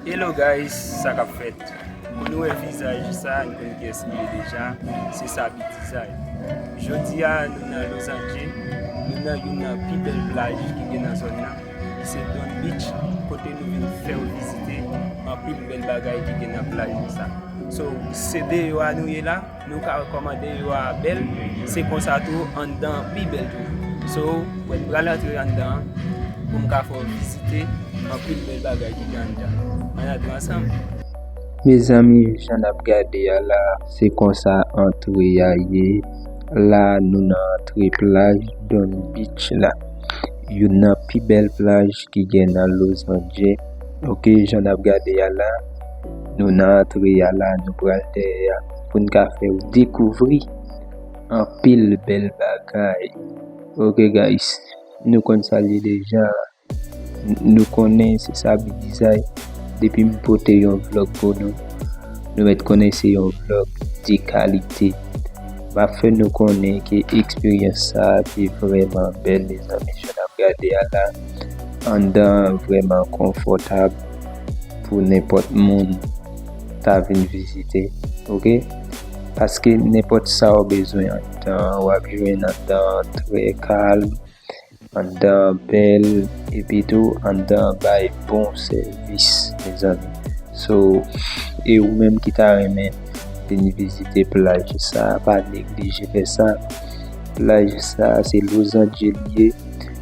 Hello guys sa kap fèt Moun nou wè vizaj sa nou konn kiyès li ye deja se Saby Dizay jodi a nou nan Los Ange nou nan youn nan pi bèl plaj ki gen nan zòn nan ki se Don Beach kote nou vin fèw vizite anpil bèl bagay ki gen nan plaj nou sa so se deyò a nou ye la. Nou ka wè kòman deyò a bèl, se konsa tou anndan an pi bèl toujou. So, wè m pral antre anndan an pou m ka fè w vizite anpil bèl bagay ki gen anndan an. Ann antre ansanm. Mezanmi jan n ap gade a la a, se konsa antre a ye. La a nou nan antre plaj Don Beach la. Youn nan pi bèl plaj ki gen nan Los Anje. Ok, jan n ap gade a la a. Nou nan antre a la nou pral dèyè a pou n ka fè ou dekouvri anpil bèl bagay ok guys nou konn sa l ye deja nou konnen se Saby Dizay depi m pote yon vlog pou nou nou mèt konnen se yon vlog de kalite m ap fè nou konnen ke eksperyans sa te vrèman bèl mezanmi jan n ap gade a la anndan an vrèman konfòtab. pou nenpòt moun ta vin vizite ok paske nenpòt sa ou bezwen andan wap jwenn andan trè kalm andan bèl epi tou andan bay bon sèvis mezanmi so e ou menm ki ta renmen vin vizite plaj sa pa neglije fè sa plaj sa se lozanje li ye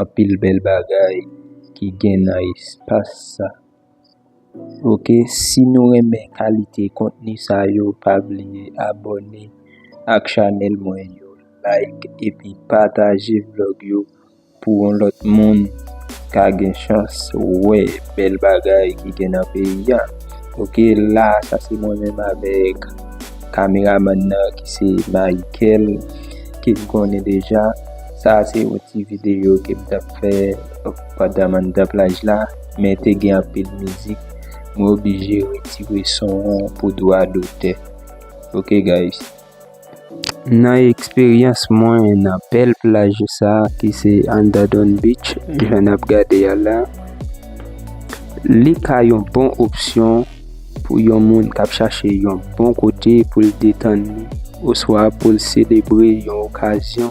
Anpil bèl bagay ki gen nan espas sa. Ok si nou renmen kalite kontni sa yo pa bliye abòne ak chanèl mwen yo like epi pataje vlog yo pou yon lòt moun ka gen chans wè bèl bagay ki gen nan peyi a ok la sa se mwen menm avèk kameramann nan ki se Mayikel ke n konnen deja. Sa a se yon ti videyo ke m t ap fè pandan m anndan plaj la, men te gen anpil mizik, mwen oblije retire son an pou dwa dotè. Ok guys. Nan eksperyans mwen nan bèl plaj sa a ki se Andadon Beach, jan n ap gade a la, li ka yon bon opsyon pou yon moun k ap chache yon bon kote pou l detann li oswa pou l selebre yon okazyon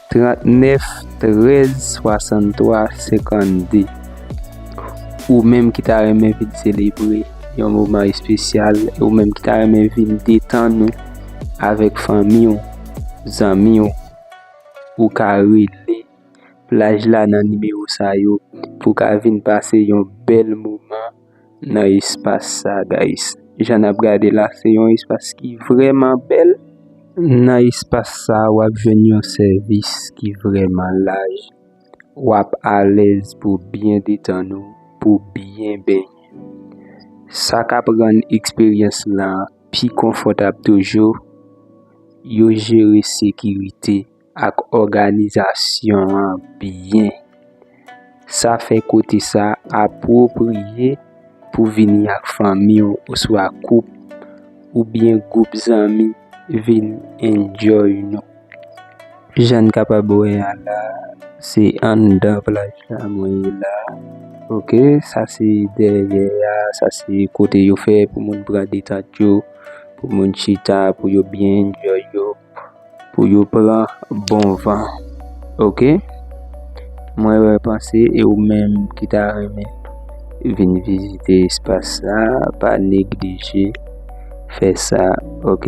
39 13 63 52 Ou menm ki ta renmen vin selebre yon moman espesyal, ou menm ki ta renmen vin detan nou avèk fanmi ou, zanmi ou, ou ka rele plaj la nan nimewo sa yo pou ka vin pase yon bèl moman. nan espas sa guys. Jan nap gade la se yon espas ki vreman bel. Nan espas sa wap jwenn yon sèvis ki vreman laj. Wap alez pou byen detann ou, pou byen benyen. Sa kap rann eksperyans lan pi konfotab toujou, yo jere sekirite. ak òganizasyon an byen. Sa fè kote sa apwopriye pou vini ak fanmi w oswa koup oubyen gwoup zanmi vin enjoy nou. Jan n kapab wè a la, se anndan plaj la mwen ye la ok. Sa se dèyè a, sa se kote yo fè pou moun pran detant yo, pou moun chita, pou yo byen enjoy yo. pou yo pran bon van ok mwen wè panse e ou menm ki ta renmen vin vizite espas sa pa neglije fè sa ok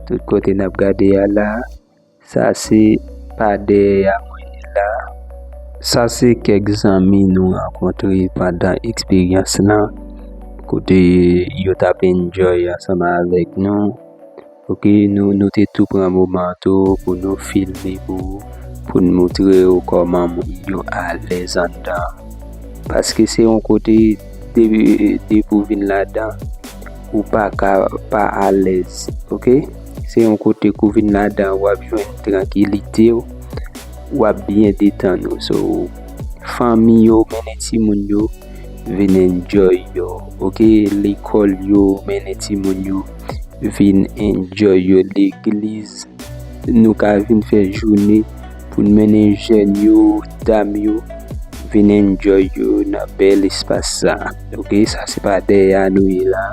tout kote nap gade a la sa se pa de ya mwen la sa se kek zanmi nou rankontre pandan eksperyans lan kote yo tap enjoy ansanm avek nou. Ok nou nou te tou pran moman tou pou nou filme pou ou pou n moutre ou kòman moun yo alèz anndan paske se yon kote depi depi ou vin ladan ou pa ka pa alèz ok se yon kote kou vin ladan wap jwenn trankilite w wap byen detann ou so fanmi yo mennen timoun yo vin enjoy yo ok lekòl yo mennen timoun yo vin enjoy yo legliz nou ka vin fè joune pou n mennen jèn yo dam yo vin enjoy yo nan bèl espas sa ok sa se pa dèyè a nou ye la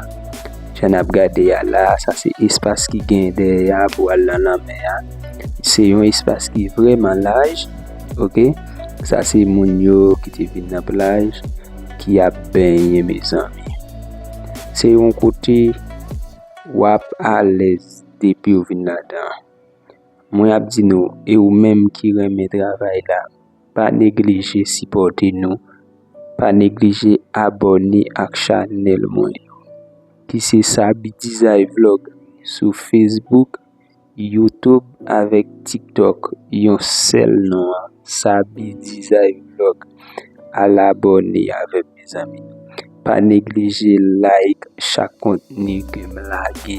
jan nap gade a la sa se espas ki gen dèyè a pou al nan lanmè a se yon espas ki vreman laj ok sa se moun yo ki te vin nan plaj ki ap benyen mezanmi. Se yon kote wap alèz depi ou vin ladan. Mwen ap di nou e ou menm ki renmen travay la, pa neglije sipòte nou, pa neglije abòne ak chanèl mwen ki se Saby Design Vlog sou Facebook. YouTube avèk tiktok yon sèl non an Saby Dizay Vlog al abòne avèm mezanmi pa neglije like chak kontni kem lage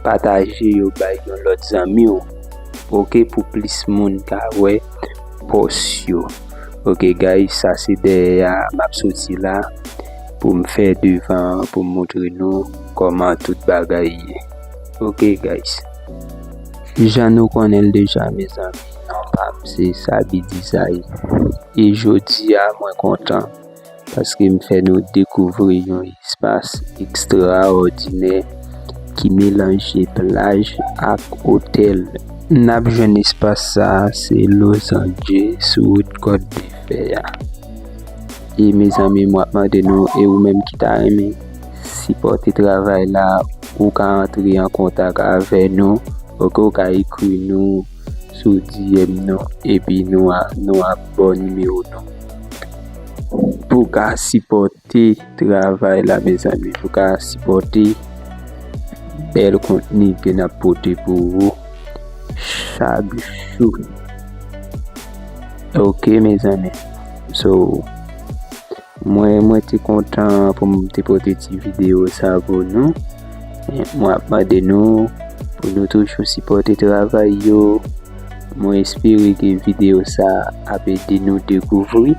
pataje yo bay yon lòt zanmiw ok pou plis moun ka wè pòs yo ok guys sa se dèyè a map soti la poum fè devan an poum moutre nou kòman tout bagay ye. Ok guys Jan nou konnenl deja mezanmi non pam se Saby Dizay e jodia mwen kontan paske m fè nou dekouvri yon espas ekstraòdinè ki melanje plaj ak otèl. Nap jwenn espas sa se Lozanje sou wout kòt de fè a e mezanmi mwen ap mande nou e ou menm ki ta renmen Sipòte travay la Ou ka antre an kontak avè nou ok ou ka ekri nou sou DM nou epi nou ap ba w nimewo nou pou w ka sipòte travay la mezanmi pou w ka sipòte bèl kontni ke n ap pote pou ou chak jou ok mezanmi so. Mwen mwen te kontan pou m te pote ti video sa pou nou. Mwen ap mande nou pou nou toujou sipote travay yo. Mwen espere ke video sa ap ede nou dekouvri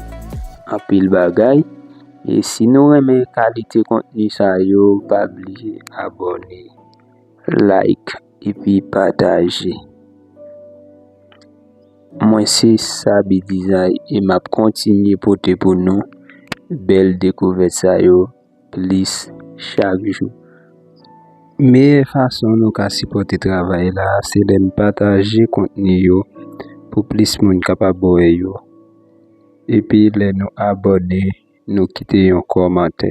anpil bagay. E si nou renmen kalite kontni sa yo, pa bliye abone, like. epi pataje. Mwen se Saby Design e m ap kontinye pote pou nou bèl dekouvèt sa yo plis chak jou. Meyè fason nou ka sipòte travay la se lè n pataje kontni yo pou plis moun kapab wè yo epi lè nou abòne nou kite yon kòmantè.